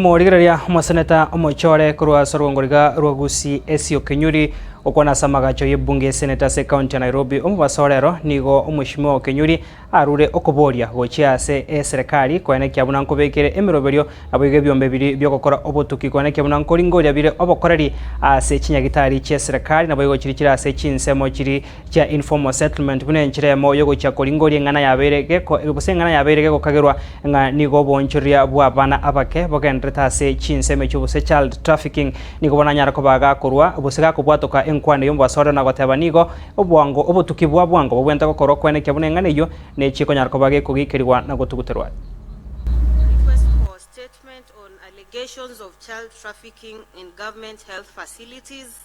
Omorigereria omoseneta omochie ore korwa ase orwongoriga rwa Gusii Esio Kinyuri, okwana ase amagacho y'ebunge y'eseneti ase ekaunti ya Nairobi, omobaso orero nigo omweshimiwa oo Kinyuri arure okoboria gochia ase eserekari koene kia buna nkobekire emeroberio naboigo ebiombe bibiri bi'ogokora obotuki koene kia buna nkoringoria bire obokoreri ase chinyagitari chi'eserekari naboigo chiri chire ase chinsemo chiri Chia informal settlement buna enchera emo yogochia koringoria eng'ana yabeire geko gose eng'ana yabeire gegokagerwa ng'a nigo oboonchoria bw'abana abake bogenderete ase chinsa emecho gose child trafficking nigo bono anyara koba gakorwa gose gakobwatoka enkwano y'omobasore ona goteba nigo obwango obotuki bwa bwango bobwente gokorwa kwene ekiabuna eng'ana eyio nechi ekonyara koba gekogiikerigwa na gotuguterwa. Request for statement on allegations of child trafficking in government health facilities.